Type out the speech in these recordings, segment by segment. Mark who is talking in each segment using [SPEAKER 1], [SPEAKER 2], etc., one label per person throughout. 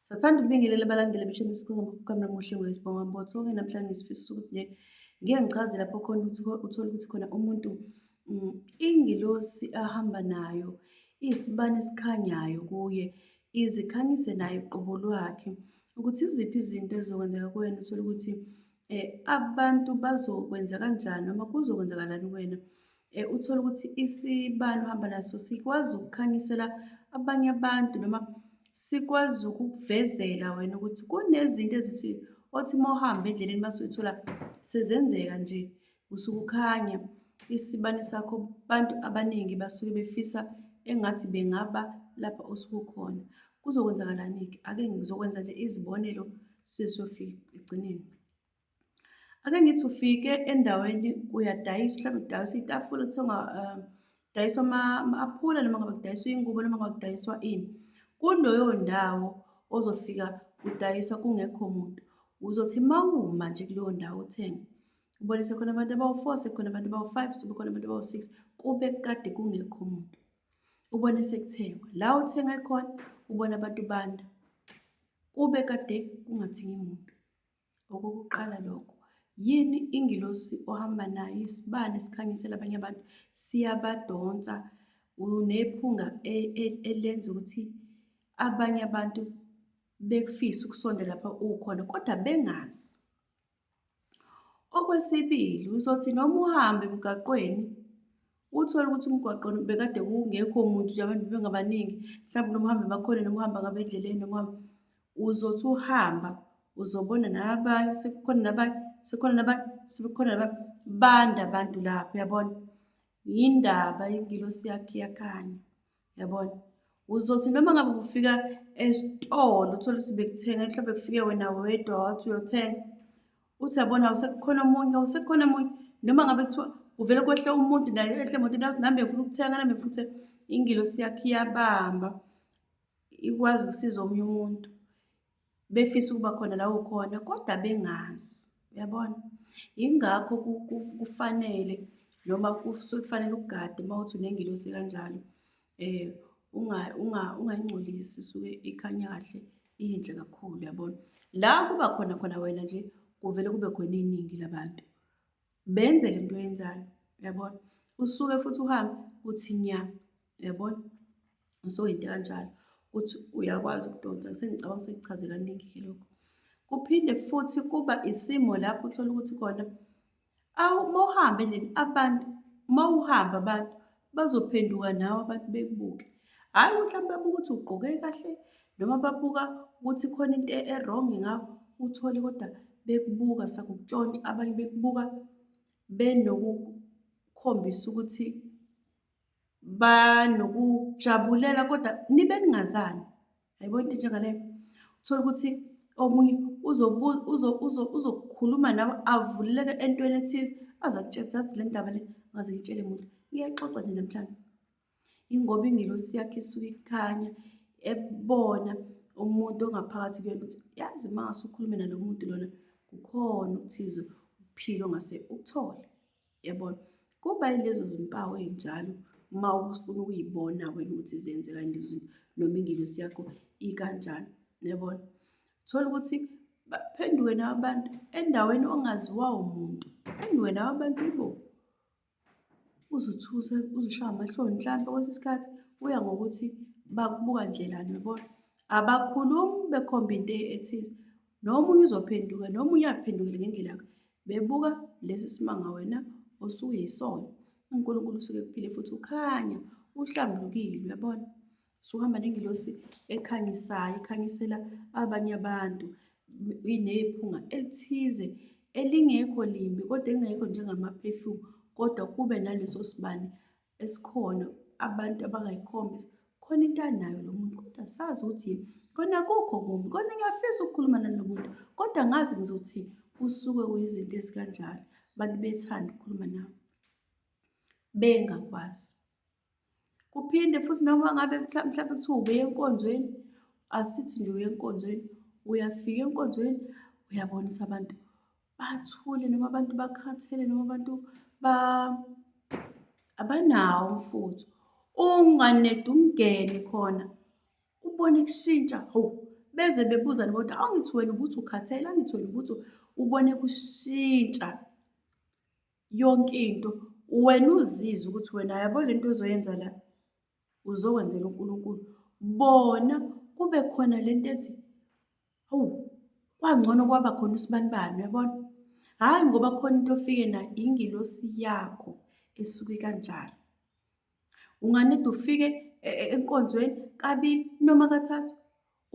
[SPEAKER 1] Sathanda ukubingelela abalandeli beshela isikhuluma kukamna muhle wesibonga mbotho ke namhlanje ngisifiso sokuthi nje ngeke ngichaze lapho khona ukuthi uthole ukuthi khona umuntu mm, ingilosi ahamba nayo isibani esikhanyayo kuye izikhanyise naye uqobo lwakhe ukuthi iziphi izinto ezizokwenzeka kuwena uthole ukuthi um abantu bazokwenza kanjani noma kuzokwenzakalani kuwena Eh, uthole ukuthi isibani uhamba naso sikwazi ukukhanyisela abanye abantu noma sikwazi ukukuvezela wena ukuthi kunezinto ezithi othi uma uhamba endleleni uma suyithola sezenzeka nje usuke ukhanya isibani sakho abantu abaningi basuke befisa engathi bengaba lapha osuke ukhona kuzokwenzakalani-ke ake ngizokwenza nje izibonelo sizofika ekugcineni ake ngithi ufike endaweni uyadayisa mhlawumbe kudayiswa itafula kuthengwa um kudayiswa ama-aphula noma ngabe kudayiswa iy'ngubo noma ngabe kudayiswa ini kuloyo ndawo ozofika kudayiswa kungekho muntu uzothi uma uma nje kuleyo ndawo uthenge ubone sekhona abantu abawu-four sekhona abantu abawu-five sebekhona abantu abawu-six kube kade kungekho muntu ubone sekuthengwa la uthenga khona ubona abantu banda kube kade kungathengi muntu Okokuqala lokho, yini ingilosi ohamba nayo isibani esikhanyisela abanye abantu siyabadonsa unephunga e, e, elenza ukuthi abanye abantu bekufise ukusondela lapha ukhona kodwa bengazi. Okwesibili, uzothi noma uhamba emgaqweni Uthole ukuthi umgwaqo bekade kungekho muntu nje abantu bengabaningi mhlawumbe noma uhambe bakhona noma uhamba ngabo endleleni noma uzothi uhamba uzobona nabanye sekukhona nabanye sekukhona nabanye sekukhona nabanye banda abantu lapho yabona yindaba ingilosi yakhe yakhanya yabona uzothi noma ngabe kufika esitolo uthole ukuthi bekuthenga mhlawumbe kufike wena wedwa wathi uyothenga uthi yabona usekukhona omunye usekukhona omunye noma ngabe kuthiwa kuvele kwehle umuntu naye ehle muntu nathi nami bengifuna ukuthenga nami ngifuna ukuthi ingilosi yakhe iyabamba ikwazi ukusiza omunye umuntu befisa ukuba khona la ukhona kodwa bengazi uyabona yingakho kufanele noma kusuke kufanele ugade uma uthi unengilosi kanjalo um ungayingcolisi isuke ikhanya kahle iyinhle kakhulu yabona la kuba khona khona wena nje kuvele kube khona iningi labantu benze le nto oyenzayo uyabona usuke futhi uhambe uthi nya uyabona usuke into kanjalo ukuthi uyakwazi ukudonsa sengicabanga sekuchaze kaningi-ke lokho kuphinde futhi kuba isimo lapho uthola ukuthi kona awu uma uhambe leni abantu uma uhamba abantu bazophenduka nawe abantu bekubuke hhayi ukuthi mhlawumbe babuka ukuthi ugqoke kahle noma babuka ukuthi khona into e-wrong ngakho uthole kodwa bekubuka sakukutshontsha abanye bekubuka benokukhombisa ukuthi banokujabulela kodwa nibe ningazani Hayibo into njengaleyo. Uthola ukuthi omunye uzokhuluma nawe avuleleke entweni ethize aze akutshele ukuthi azi le ndaba le ngaze ngitshele muntu. Ngiyaxoxa nje namhlanje. Ingoba ingelosi yakhe isuke ikhanya ebona umuntu ongaphakathi kuyona ukuthi yazi uma ngase ukhulume nalo muntu lona kukhona okuthize ukuphila ongase ukuthole. Yabona? Kuba yilezo zimpawu ey'njalo uma ufuna ukuyibona wena ukuthi zenzeka yini lezo zinto noma ingelosi yakho ikanjani. Yabona? Thola ukuthi baphenduke nawe abantu endaweni ongaziwa umuntu. Phenduke nawe abantu ibo. Uzuthuse, uzushaya amahloni mhlampe kwesinye isikhathi kuya ngokuthi bakubuka ndlelani yabona? Abakhulumi bekhomba into ethize. Nomunye uzophenduka, nomunye uyaphendukela ngendlela yakhe. Bebuka lesi simanga wena osuyisona. UNkulunkulu usuke kuphile futhi ukhanya uhlambulukile uyabona. Suhamba nengilosi ekhangisayo ikhanyisela abanye abantu inephunga elithize elingekho limbi kodwa engekho njengama-perfume kodwa kube naleso sibani esikhona abantu abangayikhombi khona into anayo lo muntu kodwa sazi ukuthi yini kona kukho kumbi kona ngiyafisa ukukhuluma nalo muntu kodwa ngazi ngizothi kusuke kuyizinto ezikanjalo abantu bethanda ukukhuluma nawe bengakwazi kuphinde futhi noma ngabe mhlawumbe kuthiwa ubuye enkonzweni asithi nje uye enkonzweni uyafika enkonzweni uyabonisa abantu bathule noma abantu bakhathele noma abantu ba abanawo umfutho unganedi umngene khona ubone kushintsha ho beze bebuzane kodwa angithi wena ukuthi ukhathele angithi wena ukuthi ubone kushintsha yonke into wena uzizwe ukuthi wena yabo lento ozoyenza la uzokwenzela uNkulunkulu bona kube khona lento ethi awu kwangcono kwaba khona usibanibani uyabona hhayi ngoba khona into ofike nayo ingilosi yakho esuke kanjalo unganide ufike e, e, enkonzweni kabili noma kathathu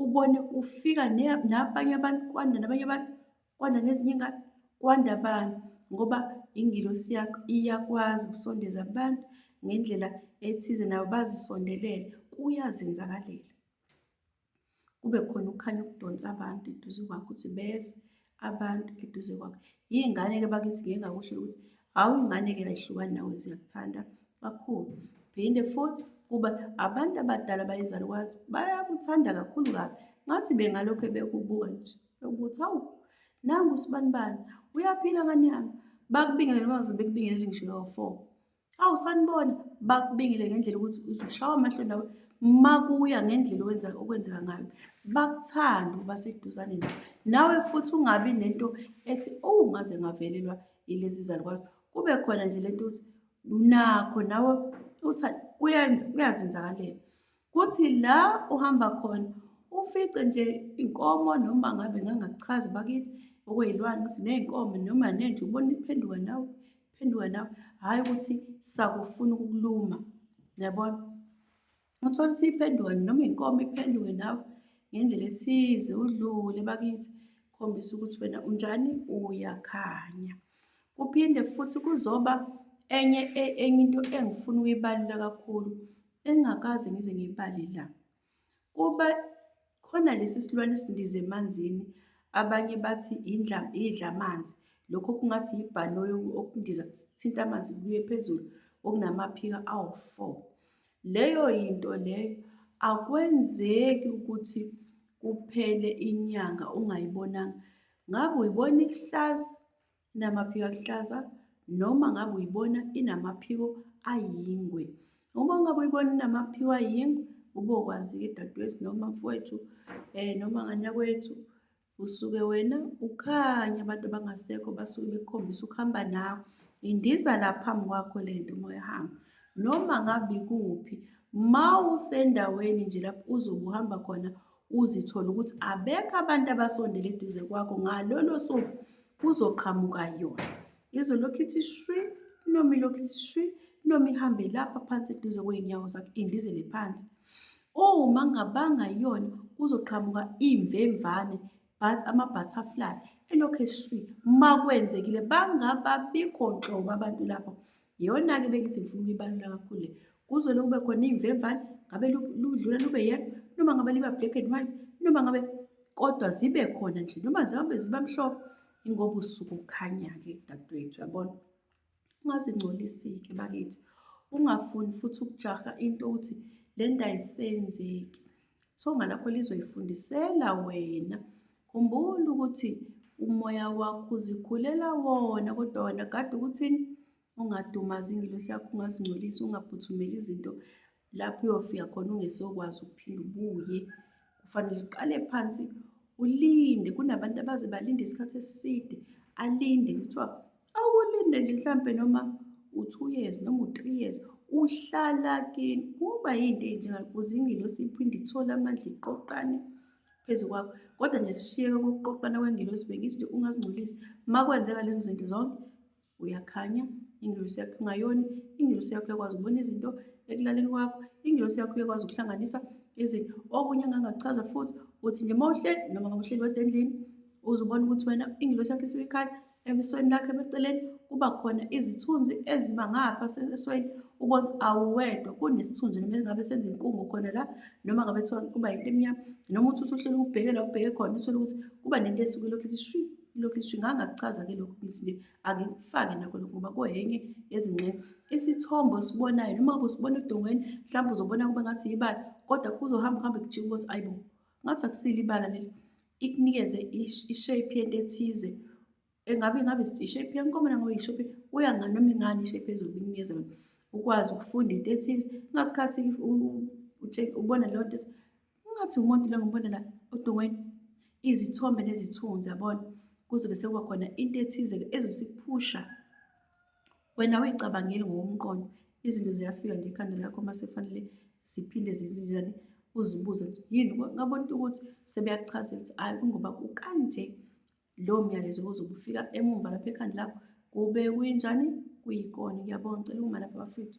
[SPEAKER 1] ubone kufika nabanye abantu kwanda nabanye abantu kwanda nezinye ingane kwanda abantu ngoba ingilosi yakho iyakwazi ukusondeza abantu ngendlela ethize nabo bazisondelele kuyazenzakalela kube khona ukukhanya okudonsa abantu eduze kwakho ukuthi beze abantu eduze kwakhe iy'ngane-ke bakithi ngike ngakusho ukuthi hhawu ingane-ke ayihlukani nawe ziyakuthanda kakhulu phinde futhi kuba abantu abadala bayizalukwazi bayakuthanda kakhulu kabi ngathi bengalokhu bekubuka nje ukuthi hawu nangu usibanibani uyaphila ngane yami bakubingelele bazo bekubingelele ngisho lowo four Awu sanibona bakubingile ngendlela ukuthi uzushawa amahloni nawe makuya ngendlela owenza okwenzeka ngayo bakuthande uba seduzane nawe nawe futhi ungabi nento ethi owu ngaze ngavelelwa yilezi zalukwazi kube khona nje lento ukuthi nakho nawe uthi kuyazenzakalela Kuthi la uhamba khona ufice nje inkomo noma ngabe ngangachazi bakithi okuyilwane ukuthi ney'nkomo noma nenja ubona iphenduka nawe iphenduka nawe hhayi ukuthi sakufuna ukukuluma yabona uthole ukuthi iphenduka noma inkomo iphenduke nawe ngendlela ethize udlule bakithi khombisa ukuthi wena unjani uyakhanya kuphinde futhi kuzoba enye e, enye into engifuna ukuyibalula kakhulu Engingakaze ngize ngibale la kuba khona lesi silwane esindiza emanzini abanye bathi idla amanzi lokho kungathi yibhanoyi okundiza kuthinta amanzi kuye phezulu okunamaphika awu-four leyo yinto leyo akwenzeki ukuthi kuphele inyanga ungayibonanga ngabe uyibona ikuhlaza Inamaphiko aluhlaza noma ngabe uyibona inamaphiko ayingwe. Uma ungabe uyibona inamaphiko ayingwe ubokwazi-ke dadewethu noma mfowethu um noma ngane yakwethu usuke wena ukhanye abantu abangasekho basuke bekukhombisa ukuhamba nawe indiza la phambi kwakho le nto uma uyahamba noma ngabe ikuphi ma usendaweni nje lapho uzobe uhamba khona uzithole ukuthi abekho abantu abasondele eduze kwakho ngalolo suku kuzoqhamuka yona izolokhu ithi shwi noma ilokhu ithi shwi noma ihambe lapha phansi eduze kwey'nyawo zakho indizele phansi uma ngabanga yona kuzoqhamuka iy'mvemvane but ama-butterfly elokhu eshwile uma kwenzekile bangababikho nhlobo abantu lapho Iyona-ke bengithi ngifuna ukuyibalula kakhulu le. Kuze lokube khona iy'mvemvane, ngabe ludlula lube yellow, noma ngabe liba black and white, noma ngabe kodwa zibe khona nje, noma zihambe ziba mhlophe, ingoba usuku kukhanya-ke dadewethu, yabona. Ungazingcolisi-ke bakithi, ungafuni futhi ukujaha into ukuthi le nto ayisenzeki. Songa lakho lizoyifundisela wena. Khumbula ukuthi umoya wakho uzikhulela wona kodwa wena kade ukuthini ungadumazi ingilosi yakho ungazingcolisi ungaphuthumeli izinto lapho uyofika khona ungesokwazi ukuphinde ubuye kufanele uqale phansi ulinde kunabantu abaze balinde isikhathi eside alinde kuthiwa Awukulinde nje mhlampe noma u-two years noma u-three years uhlala kini kuba yinto enjengakuze ingelosi iphinde ithole amandla iqoqane phezu kwakho kodwa nje sishiyeke kokuqoqana kwengelosi bengithi nje ungazingcolisi uma kwenzeka lezo zinto zonke uyakhanya ingelosi yakho ingayoni ingelosi yakho yakwazi ukubona izinto ekulaleni kwakho ingelosi yakho uyakwazi ukuhlanganisa izinto okunye engangakuchaza futhi uthi nje uma uhleli noma ngabe uhleli wedwa endlini uzubona ukuthi wena ingelosi yakho isuke ikhala Ebusweni lakhe beceleni kuba khona izithunzi eziba ngapha esweni ubonza awuwedwa kunesithunzi noma ngabe senza inkungu khona la noma ngabe kuthiwa kuba yinto emnyama noma uthi usuhlele ukubhekela ubheke khona uthole ukuthi kuba nento esuke lokhu ithi shwi lokhu ithi shwi ngangakuchaza-ke lokhu ngithi nje angikufake nakho lokhu ngoba kuhenye yezingxenye isithombe osibonayo noma ngabe usibona edongweni mhlawumbe uzobona kube ngathi yibala kodwa kuzohamba kuhambe kujike ukuthi ayibo ngathi akusile ibala leli ikunikeze ishape yento ethize engabe ngabe ishape yenkomo nangabe ishape kuya nganoma ingani ishape ezokunikeza ukwazi ukufunda into ethize ngasikhathi ubona leyo nto ungathi umuntu lo ngibona la odongweni izithombe nezithunzi yabona kuzobe sekuba khona into ethize-ke ezobe sikuphusha Wena uyicabangeli ngokomqondo, izinto ziyafika nje ekhanda lakho uma sefanele ziphinde zizinjani, uzibuze ukuthi yini, ngabona ukuthi sebeyakuchazela ukuthi hhayi kungoba kukanje lowo myalezo ozobe ufika emumva lapha ekhanda lakho, kube kuyinjani, kuyikona. Ngiyabonga, ngicela ukuma lapha bafethu.